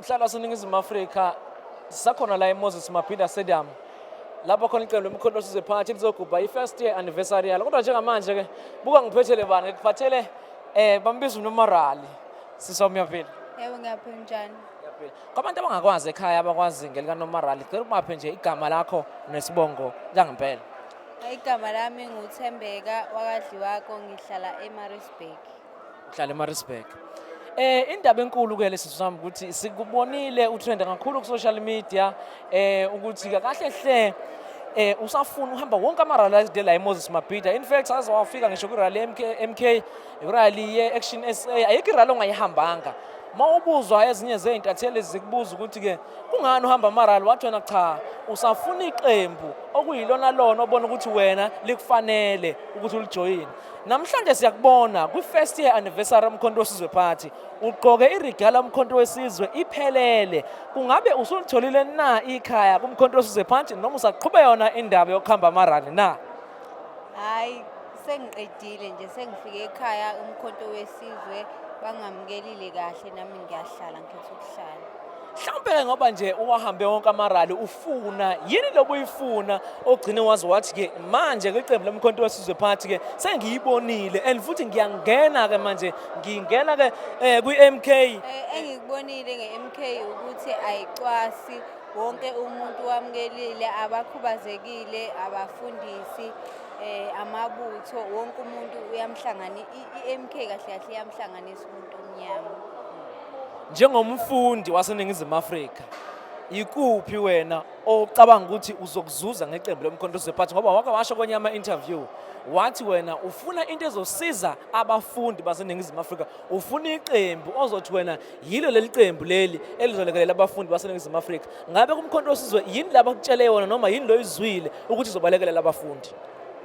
mhlalo waseningizimu afrika sisakhona la emoses mabhinda stadium lapho khona iqembu lemikhonto osize phakathi lizogubha i-first year anniversary yalo kodwa njengamanje-ke buka ngiphethele bani ngikuphathele um bambiza unomorali sisa umyaphila yebo ngiyaphila njani kwabantu abangakwazi ekhaya abakwazi ngelikanomorali cela ukubaphe nje igama lakho nesibongo langempela Igama lami nguThembeka wakadliwako ngihlala eMaritzburg. Uhlala eMaritzburg. Eh indaba enkulu ke lesi sami ukuthi sikubonile utrend kakhulu ku social media eh ukuthi kahle hle eh usafuna uhamba wonke ama rally de la eMoses Mabhida in fact saze wafika ngisho ku rally MK MK rally ye Action SA ayikho rally ongayihambanga mawubuzwa ezinye zezintatheli zikubuza ukuthi ke kungani uhamba amaral wathi wena cha usafuna iqembu okuyilona lona obona ukuthi wena likufanele ukuthi ulijoyine namhlanje siyakubona kwi-first year anniversary umkhonto wesizwe party ugqoke irigala umkhonto wesizwe iphelele kungabe usulitholile na ikhaya kumkhonto wesizwe party noma usaqhube yona indaba yokuhamba amarali na hayi Sengiqedile nje sengifike ekhaya umkhonto wesizwe bangamukelile kahle nami ngiyahlala ngikhetha ukuhlala. Mhlawumbe-ke ngoba nje uwahambe wonke amarali ufuna yini lobu uyifuna ogcine wazi wathi-ke manje kwiqembu lomkhonto wesizwe phathi-ke sengiyibonile and futhi ngiyangena-ke manje ngingena-ke um kwi-m k um eh, engikubonile nge-m k ukuthi ayicwasi wonke umuntu wamukelile abakhubazekile abafundisi eh amabutho wonke umuntu uyamhlangana iMK kahle kahle iyamhlanganisa umuntu omnyama njengomfundi waseningizimu Afrika ikuphi wena ocabanga ukuthi uzokuzuza ngeqembu lomkhondosi wephathi ngoba wake washo kwenye ama-interview wathi wena ufuna into ezosiza abafundi baseningizimu afrika ufuna iqembu ozothi wena yilo leli qembu leli elizolekelela abafundi baseningizimu afrika ngabe kumkhonto osizwe yini laba kutshele yona noma yini loyo izwile ukuthi izobalekelela abafundi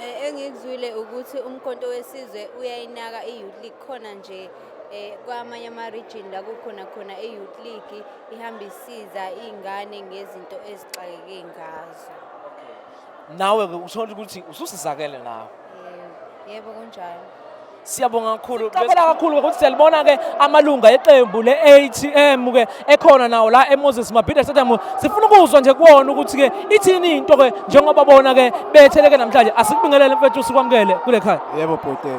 eh, engikuzwile ukuthi umkhonto wesizwe uyayinaka i-youth league khona nje eh kwamanye ama region la kukhona khona e youth league ihamba isiza izingane ngezinto ezixakeke ngazo nawe-ke uthole ukuthi ususizakele nawe yebo kunjalo siyabonga kakhulu siqaphela kakhulu ukuthi siyalibona-ke amalunga eqembu le-atm ke ekhona nawo la emoses mabhida stadium sifuna ukuzwa nje kuwona ukuthi-ke ithini into-ke njengoba bona-ke betheleke namhlanje asikubingelele mfethu sikwamukele kule khaya yebo bhuti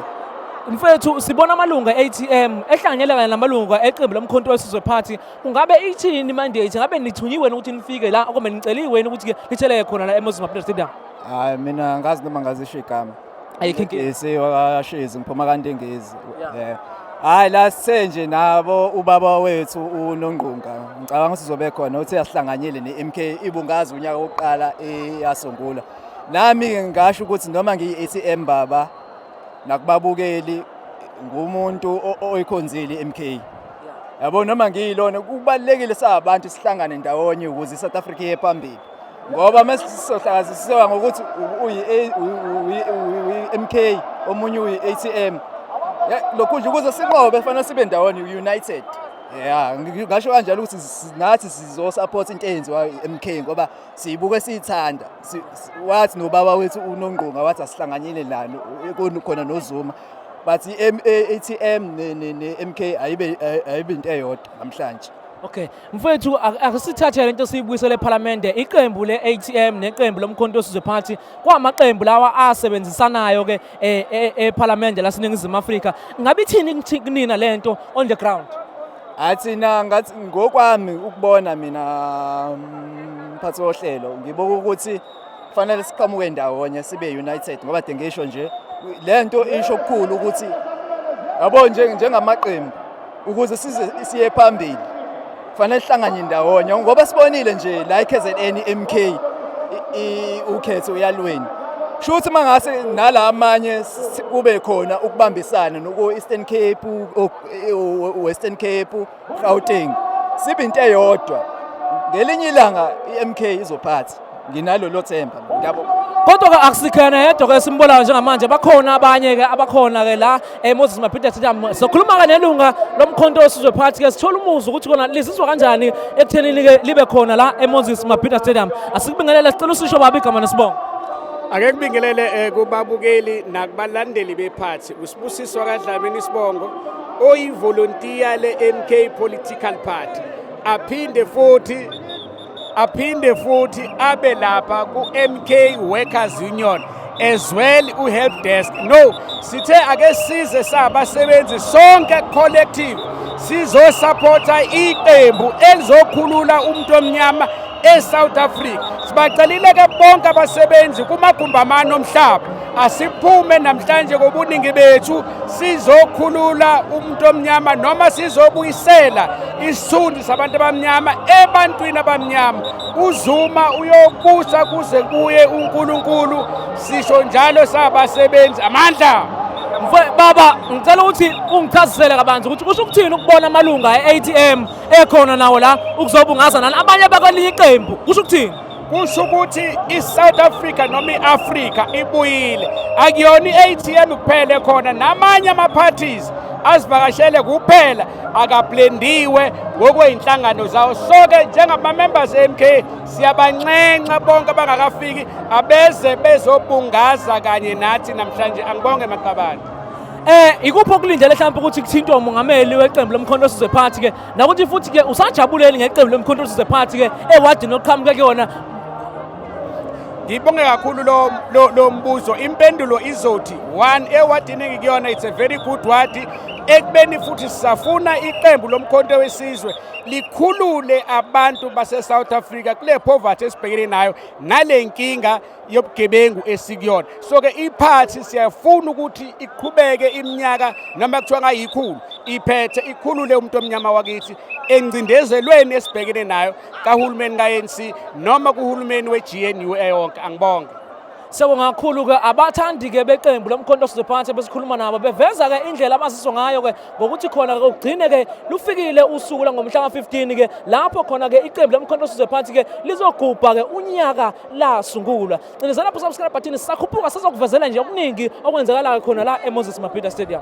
mfethu sibona amalunga e-atm ehlanganyela kanye namalunga eqembu lomkhonto wesizwe party Ungabe ithini mandate? Ngabe nithunyiwe ukuthi nifike la kumbe niceliwe ukuthi ke nitheleke khona la eMoses Mabhida Stadium? Hayi mina ngazi noma ngazisho igama. Ayikho inkinga. Ngisi wakashezi ngiphuma kaNtengezi. Yeah. Yeah. Hayi la sithe nje nabo ubaba wethu uNongqunga. Ngicabanga ukuthi uzobe khona uthi asihlanganyele neMK ibungaza unyaka wokuqala eyasungula. Nami ngasho ukuthi noma ngiyi-ATM baba nakubabukeli ngumuntu oyikhonzile iMK yabo noma ngiyilona kubalekile sabantu sihlangane ndawonye ukuze iSouth Africa iye phambili ngoba mesisohlakazisiwa ngokuthi uyi MK omunye uyi ATM lokhu nje ukuze sinqobe fanele sibe ndawonye united yeah ngasho kanjalo ukuthi nathi sizo support into eyenziwa iMK ngoba siyibuke siyithanda wathi nobaba wethu unongqonga wathi asihlanganyele lalo khona nozuma but i-atm ne-m k ayibe into eyodwa namhlanje Okay. Mfethu akusithathe lento siyibuyisele ePhalamende iqembu leATM neqembu lomkhonto osizwe party kwamaqembu lawa asebenzisanayo ke eh, eh, ePhalamende laseNingizimu Afrika. Ngabe ithini kunina lento on the ground? Athina ngathi ngokwami ukubona mina mm, mphathi wohlelo ngibuka ukuthi kufanele siqhamuke ndawonye sibe united ngoba de ngisho nje le nto isho okukhulu ukuthi yabo njengamaqembu ukuze siye phambili kufanele sihlanganye ndawonye ngoba sibonile nje la i-KZN MK ukhetho uyalweni sho ukuthi mangase nala amanye kube khona ukubambisana noku Eastern Cape Western Cape, Gauteng. Sibe into eyodwa. Ngelinye ilanga iMK izophatha. Nginalolo themba. Ngiyabo. Kodwa ke akusikhona yedwa ke simbolayo njengamanje bakhona abanye ke abakhona ke la eh Moses Mapita Sithamu sokhuluma ke nelunga lomkhonto osizwe phakathi ke sithola umuzwa ukuthi kona lizizwa kanjani ekuthenini ke libe khona la eMoses Mapita Stadium asikubingelele sicela usisho babi igama nesibongo Ake kubingelele eh, kubabukeli nakubalandeli bephathi Usibusiswa kaDlamini Sibongo oyivolontiya le-MK Political Party aphinde futhi aphinde futhi abe lapha ku-MK Workers Union as well u-help desk no sithe ake size sabasebenzi sonke collective sizosapotha iqembu elizokhulula umuntu omnyama eSouth Africa. Sibacelile ke bonke abasebenzi kumagumbi amane omhlaba asiphume namhlanje kobuningi bethu sizokhulula umuntu omnyama noma sizobuyisela isithunzi sabantu abamnyama ebantwini abamnyama uzuma uyobusa kuze kuye uNkulunkulu sisho njalo sabasebenzi amandla baba ngicela ukuthi ungichazisele kabanzi ukuthi kusho ukuthini ukubona amalunga e-ATM ekhona nawo la ukuzobungaza nani abanye bakwelinye iqembu kusho ukuthini kusho ukuthi i-south africa noma i-afrika ibuyile akuyona i-atm kuphela ekhona namanye ama-parties azivakashele kuphela akablendiwe ngokwey'nhlangano zawo soke njengama-members e-mk siyabanxenxa bonke abangakafiki abeze bezobungaza kanye nathi namhlanje angibonge maqabane Eh ikuphi okulindele mhlawumbe ukuthi kuthintwe umongameli weqembu lomkhonto osizwe phansi ke nakuthi futhi ke usajabuleli ngeqembu lomkhonto osizwe phansi ke ewadini oqhamuke kuyona ngibonge kakhulu lo, lo, lo mbuzo impendulo izothi one ewadini engikuyona it's a very good wadi ekubeni futhi sisafuna iqembu lomkhonto wesizwe likhulule abantu base-south africa kule poverty esibhekene nayo nale nkinga yobugebengu esikuyona so ke iphathi siyafuna ukuthi iqhubeke iminyaka noma kuthiwa ngayikhulu iphethe ikhulule umuntu omnyama wakithi engcindezelweni esibhekene nayo kahulumeni ka-ANC noma kuhulumeni we-GNU eyonke angibonge sekungakhulu-ke abathandi-ke beqembu lomkhonto sizophansi besikhuluma nabo beveza-ke indlela abaziswa ngayo-ke ngokuthi khona-ke kugcine-ke lufikile usuku langomhla ka-15-ke lapho khona-ke iqembu lomkhonto sizophansi-ke lizogubha-ke unyaka lasungulwa cindezela lapho subscribe button sisakhuphuka sizokuvezela nje okuningi okwenzakalayo khona la eMoses Mabhida Stadium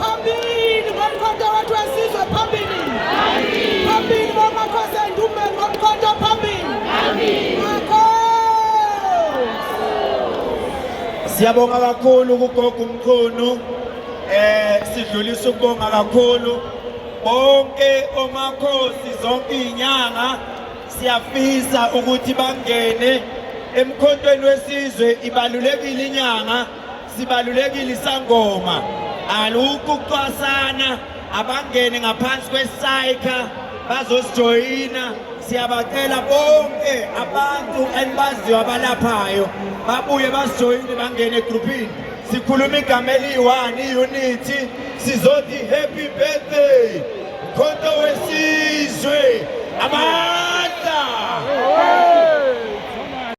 Phambili ngomkhonto wethu wesizwe phambili. Phambili bomakhosi endumbeni ngomkhonto phambili. Siyabonga kakhulu kugogo umkhulu. Eh sidlulisa ukubonga kakhulu bonke omakhosi zonke izinyanga siyafisa ukuthi bangene emkhontweni wesizwe ibalulekile inyanga Sibalulekile isangoma alukho ukucwasana abangene ngaphansi kwesayikha bazosijoyina siyabacela bonke abantu enibaziyo abalaphayo babuye basijoyine bangene egruphini sikhuluma igama eliyi-one iyunithi sizothi happy birthday mkhonto wesizwe amandla